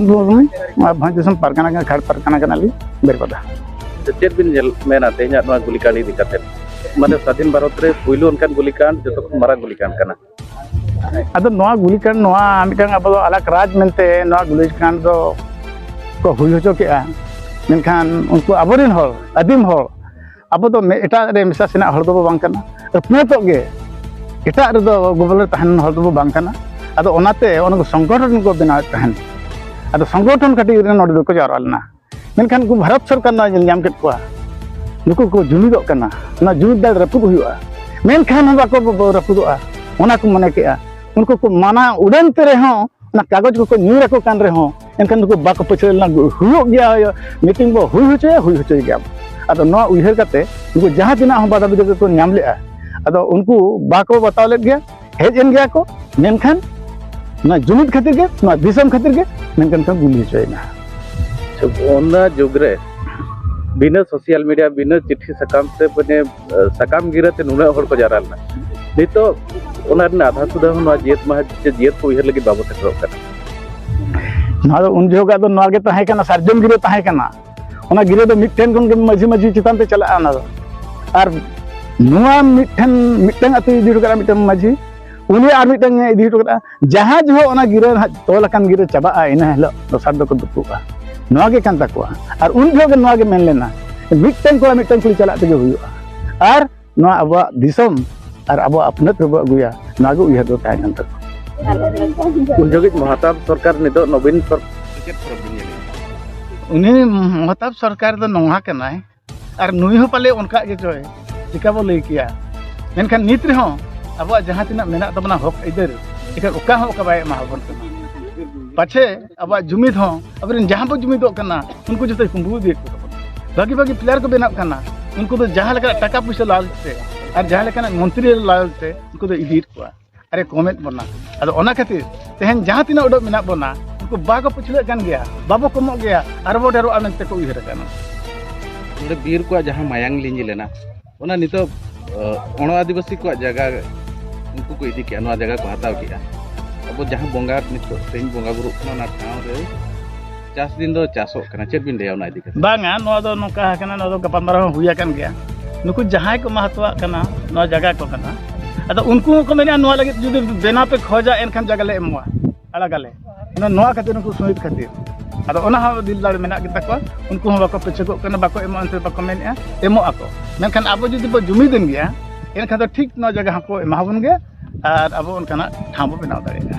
ᱵᱷᱚᱸᱡᱽ ᱫᱤᱥᱚᱢ ᱯᱟᱨᱜᱟᱱᱟ ᱠᱟᱱᱟ ᱠᱷᱟᱲ ᱯᱟᱨᱜᱟᱱᱟ ᱠᱟᱱᱟᱞᱤᱧ ᱵᱮᱨᱯᱟᱫᱟ ᱪᱮᱫ ᱵᱤᱱ ᱧᱮᱞ ᱢᱮᱱᱟ ᱛᱮᱦᱮᱧᱟᱜ ᱱᱚᱣᱟ ᱜᱩᱞᱤᱠᱟᱸᱰ ᱤᱫᱤ ᱠᱟᱛᱮ ᱢᱟᱱᱮ ᱥᱟᱫᱷᱤᱱ ᱵᱷᱟᱨᱚᱛ ᱨᱮ ᱯᱩᱭᱞᱩ ᱚᱱᱠᱟᱱ ᱜᱩᱞᱤᱠᱟᱸᱰ ᱡᱚᱛᱚ ᱠᱷᱚᱱ ᱢᱟᱨᱟᱝ ᱜᱩᱞᱤᱠᱟᱸᱰ ᱠᱟᱱᱟ ᱟᱫᱚ ᱱᱚᱣᱟ ᱜᱩᱞᱤᱠᱟᱸᱰ ᱱᱚᱣᱟ ᱢᱤᱫᱴᱟᱝ ᱟᱵᱚ ᱫᱚ ᱟᱞᱟᱠ ᱨᱟᱡᱽ ᱢᱮᱱᱛᱮ ᱱᱚᱣᱟ ᱜᱩᱞᱤᱠᱟᱸᱰ ᱫᱚ ᱠᱚ ᱦᱩᱭ ᱦᱚᱪᱚ ᱠᱮᱜᱼᱟ ᱢᱮᱱᱠᱷᱟᱱ ᱩᱱᱠᱩ ᱟᱵᱚᱨᱮᱱ ᱦᱚᱲ ᱟᱹᱫᱤᱢ ᱦᱚᱲ ᱟᱵᱚ ᱫᱚ ᱮᱴᱟᱜ ᱨᱮ ᱢᱮᱥᱟ ᱥᱮᱱᱟᱜ ᱦᱚᱲ ᱫᱚᱵᱚ ᱵᱟᱝ ᱠᱟᱱᱟ ᱟᱹᱯᱱᱟᱹᱛᱚᱜ ᱜᱮ ᱮᱴᱟᱜ ᱨᱮᱫᱚ ᱜᱚᱵᱚᱞ ᱨᱮ ᱛᱟᱦᱮᱱ ᱦᱚᱲ ᱫᱚᱵᱚ ᱵᱟᱝ ᱠᱟᱱᱟ ᱟᱫᱚ ᱚᱱᱟᱛᱮ ᱚᱱᱟ ᱠᱚ ᱥᱚᱝᱜᱚᱴᱷᱚᱱ ᱠᱚ ᱵᱮᱱᱟᱣᱮᱫ ᱛᱟᱦᱮᱱ ᱟᱫᱚ ᱥᱚᱝᱜᱚᱴᱷᱚᱱ ᱠᱟᱹᱴᱤᱡ ᱨᱮ ᱱᱚᱰᱮ ᱫᱚᱠᱚ ᱡᱟᱣᱨᱟ ᱞᱮᱱᱟ ᱢᱮᱱᱠᱷᱟᱱ ᱩᱱᱠᱩ ᱵᱷᱟᱨᱚᱛ ᱥᱚᱨᱠᱟᱨ ᱱᱚᱣᱟ ᱧᱮᱞ ᱧᱟᱢ ᱠᱮᱫ ᱠᱚᱣᱟ ᱱᱩᱠᱩ ᱠᱚ ᱡᱩᱢᱤᱫᱚᱜ ᱠᱟᱱᱟ ᱚᱱᱟ ᱡᱩᱢᱤᱫ ᱫᱟᱲᱮ ᱨᱟᱹᱯᱩᱫ ᱦᱩᱭᱩᱜᱼᱟ ᱢᱮᱱᱠᱷᱟᱱ ᱦᱚᱸ ᱵᱟᱠᱚ ᱨᱟᱹᱯᱩᱫᱚᱜᱼᱟ ᱚᱱᱟ ᱠᱚ ᱢᱚᱱᱮ ᱠᱮᱜᱼᱟ ᱩᱱᱠᱩ ᱠᱚ ᱢᱟᱱᱟ ᱩᱰᱟᱹᱱ ᱛᱮ ᱨᱮᱦᱚᱸ ᱚᱱᱟ ᱠᱟᱜᱚᱡᱽ ᱠᱚᱠᱚ ᱧᱩᱨ ᱟᱠᱚ ᱠᱟᱱ ᱨᱮᱦᱚᱸ ᱮᱱᱠᱷᱟᱱ ᱱᱩᱠᱩ ᱵᱟᱠᱚ ᱯᱟᱹᱪᱷᱞᱟᱹ ᱞᱮᱱᱟ ᱦᱩᱭᱩᱜ ᱜᱮᱭᱟ ᱢᱤᱴᱤᱝ ᱵᱚ ᱦᱩᱭ ᱦᱚᱪᱚᱭᱟ ᱦᱩᱭ ᱦᱚᱪᱚᱭ ᱜᱮᱭᱟ ᱟᱫᱚ ᱱᱚᱣᱟ ᱩᱭᱦᱟᱹᱨ ᱠᱟᱛᱮ ᱱᱩᱠᱩ ᱡᱟᱦᱟᱸ ᱛᱤᱱᱟᱹᱜ ᱦᱚᱸ ᱵᱟᱫᱷᱟ ᱵᱤᱫᱷᱟᱹ ᱠᱚ ᱧᱟᱢ ᱞᱮᱫᱼᱟ ᱟᱫᱚ ᱩᱱᱠᱩ ᱵᱟᱠᱚ ᱵᱟᱛᱟᱣ ᱞᱮᱫ ᱜᱮᱭᱟ ᱦᱮᱡ ᱮᱱ ᱜᱮᱭᱟ ᱠᱚ ᱢᱮᱱᱠᱷᱟᱱ ᱱᱚᱣᱟ ᱡᱩᱢᱤᱫ ᱠᱷᱟᱹᱛᱤᱨ ᱜᱮ ᱱᱚᱣᱟ ᱫᱤᱥᱚᱢ ᱠᱷᱟᱹᱛᱤᱨ ᱜᱮ ᱢᱮᱱᱠᱷᱟᱱ ᱠᱚ ᱜᱩᱞᱤ ᱦᱚᱪᱚᱭᱮᱱᱟ ᱚᱱᱟ ᱡᱩᱜᱽ ᱨᱮ ᱵᱤᱱᱟᱹ ᱥᱳᱥᱟᱞ ᱢᱤᱰᱤᱭᱟ ᱵᱤᱱᱟᱹ ᱪᱤᱴᱷᱤ ᱥᱟᱠᱟᱢ ᱛᱮ ᱢᱟᱱᱮ ᱥᱟᱠᱟᱢ ᱜᱤᱨᱟᱹ ᱛᱮ ᱱᱩᱱᱟᱹᱜ ᱦᱚᱲ ᱠᱚ ᱡᱟᱣᱨᱟ ᱞᱮᱱᱟ ᱱᱤᱛᱚᱜ ᱚᱱᱟ ᱨᱮᱱᱟᱜ ᱟᱫᱷᱟ ᱥᱩᱫᱷᱟ ᱦᱚᱸ ᱱᱚᱣᱟ ᱡᱤᱭᱟᱹᱛ ᱢᱟᱦᱟ ᱥᱮ ᱡᱤᱭᱟᱹᱛ ᱠᱚ ᱩᱭᱦᱟᱹᱨ ᱞᱟᱹᱜᱤᱫ ᱵᱟᱵᱚ ᱥᱮᱴᱮᱨᱚᱜ ᱠᱟᱱᱟ ᱱᱚᱣᱟ ᱫᱚ ᱩᱱ ᱡᱚᱦᱚᱜᱟᱜ ᱫᱚ ᱱᱚᱣᱟ ᱜᱮ ᱛᱟᱦᱮᱸ ᱠᱟᱱᱟ ᱥᱟᱨᱡᱚᱢ ᱜᱤᱨᱟᱹ ᱛᱟᱦᱮᱸ ᱠᱟᱱᱟ ᱚᱱᱟ ᱜᱤᱨᱟᱹ ᱫᱚ ᱢᱤᱫᱴᱮᱱ ᱠᱷᱚᱱ ᱜᱮ ᱢᱟᱹᱡᱷᱤ ᱢᱟᱹᱡᱷᱤ ᱪᱮᱛᱟᱱ ᱛᱮ ᱪᱟᱞᱟᱜᱼᱟ ᱚᱱᱟ ᱫᱚ ᱟᱨ ᱱᱚᱣᱟ ᱢᱤᱫᱴᱮᱱ ᱢᱤᱫᱴᱮᱱ ᱟᱹᱛᱩ ᱤᱫᱤ ᱦᱚᱴᱚ ᱠᱟᱜᱼᱟ ᱢᱤᱫᱴᱮᱱ ᱢᱟᱹᱡᱷᱤ ᱩᱱᱤ ᱟᱨ ᱢᱤᱫᱴᱮᱱ ᱤᱫᱤ ᱦᱚᱴᱚ ᱠᱟᱜᱼᱟ ᱡᱟᱦᱟᱸ ᱡᱚᱦᱚᱜ ᱚᱱᱟ ᱜᱤᱨᱟᱹ ᱦᱟᱸᱜ ᱛᱚᱞ ᱟᱠᱟᱱ ᱜᱤᱨᱟᱹ ᱪᱟᱵᱟᱜᱼᱟ ᱤᱱᱟᱹ ᱦᱤᱞᱳᱜ ᱫᱚᱥᱟᱨ ᱫᱚᱠᱚ ᱫᱩᱯᱩᱜᱼᱟ ᱱᱚᱣᱟ ᱜᱮ ᱠᱟᱱ ᱛᱟᱠᱚᱣᱟ ᱟᱨ ᱩᱱ ᱡᱚᱦᱚᱜ ᱜᱮ ᱱᱚᱣᱟ ᱜᱮ ᱢᱮᱱ ᱞᱮᱱᱟ ᱢᱤᱫᱴᱟᱝ ᱠᱚᱲᱟ ᱢᱤᱫᱴᱟᱝ ᱠᱩᱲᱤ ᱪᱟᱞᱟᱜ ᱛᱮᱜᱮ ᱦᱩᱭᱩᱜᱼᱟ ᱟᱨ ᱱᱚᱣᱟ ᱟᱵᱚᱣᱟᱜ ᱫᱤᱥᱚᱢ ᱟᱨ ᱟᱵᱚᱣᱟᱜ ᱟᱹᱯᱱᱟᱹᱛ ᱨᱮᱵᱚ ᱟᱹᱜᱩᱭᱟ ᱱᱚᱣᱟ ᱜᱮ ᱩᱭᱦᱟᱹᱨ ᱫᱚ ᱛᱟᱦᱮᱸ ᱠᱟᱱ ᱛᱟᱠᱚᱣᱟ ᱩᱱ ᱡᱚᱜᱤᱡ ᱢᱚᱦᱟᱛᱟᱵ ᱥᱚᱨᱠᱟᱨ ᱱᱤᱛᱚᱜ ᱱᱚᱵᱤᱱ ᱥᱚᱨᱠᱟᱨ ᱩᱱᱤ ᱢᱚᱦᱟᱛᱟᱵ ᱥᱚᱨᱠᱟᱨ ᱫᱚ ᱱᱚᱣᱟ ᱠᱟᱱᱟᱭ ᱟᱨ ᱱᱩᱭ ᱦᱚᱸ ᱯᱟᱞᱮ ᱚᱱᱠᱟ ᱜᱮ ᱪᱚᱭ ᱪᱤᱠᱟ ᱵᱚ ᱞᱟᱹᱭ ᱠᱮᱭᱟ ᱢᱮᱱᱠᱷᱟᱱ ᱱᱤᱛ ᱨᱮᱦᱚᱸ ᱟᱵᱚᱣᱟᱜ ᱡᱟᱦᱟᱸ ᱛᱤᱱᱟᱹᱜ ᱢᱮᱱᱟᱜ ᱛᱟᱵᱚᱱᱟ ᱦᱚᱠ ᱟᱹᱭᱫᱟᱹᱨ ᱮᱠᱷᱟᱱ ᱚᱠᱟ ᱦᱚᱸ ᱚᱠᱟ ᱵᱟᱭ ᱮᱢᱟᱵᱚᱱ ᱠᱟᱱᱟ ᱯᱟᱪᱷᱮ ᱟᱵᱚᱣᱟᱜ ᱡᱩᱢᱤᱫ ᱦᱚᱸ ᱟᱵᱚᱨᱮᱱ ᱡᱟᱦᱟᱸ ᱵᱚ ᱡᱩᱢᱤᱫᱚᱜ ᱠᱟᱱᱟ ᱩᱱᱠᱩ ᱡᱚᱛᱚ ᱠᱩᱢᱵᱩ ᱤᱫᱤᱭᱮᱫ ᱠᱚ ᱛᱟᱵᱚᱱᱟ ᱵᱷᱟᱹᱜᱤ ᱵᱷᱟᱹᱜᱤ ᱯᱞᱮᱭᱟᱨ ᱠᱚ ᱵᱮᱱᱟᱜ ᱠᱟᱱᱟ ᱩᱱᱠᱩ ᱫᱚ ᱡᱟᱦᱟᱸ ᱞᱮᱠᱟᱱᱟᱜ ᱴᱟᱠᱟ ᱯᱩᱭᱥᱟᱹ ᱞᱟᱞᱪ ᱛᱮ ᱟᱨ ᱡᱟᱦᱟᱸ ᱞᱮᱠᱟᱱᱟᱜ ᱢᱚᱱᱛᱨᱤ ᱞᱟᱞᱪ ᱛᱮ ᱩᱱᱠᱩ ᱫᱚ ᱤᱫᱤᱭᱮᱫ ᱠᱚᱣᱟ ᱟᱨᱮ ᱠᱚᱢᱮᱫ ᱵᱚᱱᱟ ᱟᱫᱚ ᱚᱱᱟ ᱠᱷᱟᱹᱛᱤᱨ ᱛᱮᱦᱮᱧ ᱡᱟᱦᱟᱸ ᱛᱤᱱᱟᱹᱜ ᱩᱰᱟᱹᱜ ᱢᱮᱱᱟᱜ ᱵᱚᱱᱟ ᱩᱱᱠᱩ ᱵᱟᱠᱚ ᱯᱟᱹᱪᱷᱞᱟᱹᱜ ᱠᱟᱱ ᱜᱮᱭᱟ ᱵᱟᱵᱚ ᱠᱚᱢᱚᱜ ᱜᱮᱭᱟ ᱟᱨ ᱵᱚ ᱰᱷᱮᱨᱚᱜᱼᱟ ᱢᱮᱱᱛᱮ ᱠᱚ ᱩᱭᱦᱟᱹᱨ ᱟᱠᱟᱱᱟ ᱱᱚᱰᱮ ᱵᱤᱨ ᱠᱚᱣᱟᱜ ᱡᱟᱦᱟᱸ ᱢᱟᱭᱟᱝ ᱞᱤᱸᱡᱤ ᱞᱮᱱᱟ ᱚᱱᱟ ᱱᱤᱛᱚᱜ ᱚᱬᱚ ᱟᱹᱫᱤᱵᱟᱹᱥᱤ ᱠᱚᱣᱟᱜ ᱡᱟᱭᱜᱟ ᱩᱱᱠᱩ ᱠᱚ ᱤᱫᱤ ᱠᱮᱜᱼᱟ ᱱᱚᱣᱟ ᱡᱟᱭᱜᱟ ᱠᱚ ᱦᱟᱛᱟᱣ ᱠᱮᱜᱼᱟ ᱟᱵᱚ ᱡᱟᱦᱟᱸ ᱵᱚᱸᱜᱟ ᱱᱤᱛᱚᱜ ᱛᱮᱦᱮᱧ ᱵᱚᱸᱜᱟ ᱵᱩᱨᱩᱜ ᱠᱟᱱᱟ ᱚᱱᱟ ᱴᱷᱟᱶ ᱨᱮ ᱪᱟᱥ ᱫᱤᱱ ᱫᱚ ᱪᱟᱥᱚᱜ ᱠᱟᱱᱟ ᱪᱮᱫ ᱵᱤᱱ ᱞᱟᱹᱭᱟ ᱚᱱᱟ ᱤᱫᱤ ᱠᱟᱛᱮ ᱵᱟᱝᱟ ᱱᱚᱣᱟ ᱫᱚ ᱱᱚᱝᱠᱟ ᱟᱠᱟᱱᱟ ᱱᱚᱣᱟ ᱫᱚ ᱜᱟᱯᱟᱞᱢᱟᱨᱟᱣ ᱦᱚᱸ ᱦᱩᱭ ᱟᱠᱟᱱ ᱜᱮᱭᱟ ᱱᱩᱠᱩ ᱡᱟᱦᱟᱸᱭ ᱠᱚ ᱢᱟᱦᱟᱛᱚᱣᱟᱜ ᱠᱟᱱᱟ ᱱᱚᱣᱟ ᱡᱟᱭᱜᱟ ᱠᱚ ᱠᱟᱱᱟ ᱟᱫᱚ ᱩᱱᱠᱩ ᱦᱚᱸᱠᱚ ᱢᱮᱱᱟ ᱱᱚᱣᱟ ᱞᱟᱹᱜᱤᱫ ᱡᱩᱫᱤ ᱵᱮᱱᱟᱣ ᱯᱮ ᱠᱷᱚᱡᱟ ᱮᱱᱠᱷᱟᱱ ᱡᱟᱭᱜᱟ ᱞᱮ ᱮᱢᱚᱜᱼᱟ ᱟᱲᱟᱜᱟᱞᱮ ᱱᱚᱣᱟ ᱠᱷᱟᱹᱛᱤᱨ ᱩᱱᱠᱩ ᱥᱩᱦᱤᱫ ᱠᱷᱟᱹᱛᱤᱨ ᱟᱫᱚ ᱚᱱᱟ ᱦᱚᱸ ᱫᱤᱞ ᱫᱟᱲᱮ ᱢᱮᱱᱟᱜ ᱜᱮᱛᱟ ᱠᱚᱣᱟ ᱩᱱᱠᱩ ᱦᱚᱸ ᱵᱟᱠᱚ ᱯᱟᱹᱪᱷᱟᱹᱠᱚᱜ ᱠᱟᱱᱟ ᱵᱟᱠᱚ ᱮᱢᱚᱜᱼᱟ ᱮᱱᱛᱮ ᱵᱟᱠᱚ ᱢᱮᱱᱮᱫᱼᱟ ᱮᱢᱚᱜ ᱟᱠᱚ ᱢᱮᱱᱠᱷᱟᱱ ᱟᱵᱚ ᱡᱩᱫᱤ ᱵᱚ ᱡᱩᱢᱤᱫᱮᱱ ᱜᱮᱭᱟ ᱮᱱᱠᱷᱟᱱ ᱫᱚ ᱴᱷᱤᱠ ᱱᱚᱣᱟ ᱡᱟᱭᱜᱟ ᱦᱚᱸᱠᱚ ᱮᱢᱟᱵᱚᱱ ᱜᱮᱭᱟ ᱟᱨ ᱟᱵᱚ ᱚᱱᱠᱟᱱᱟᱜ ᱴᱷᱟᱶ ᱵᱚ ᱵᱮᱱᱟᱣ ᱫᱟᱲᱮᱭᱟᱜᱼᱟ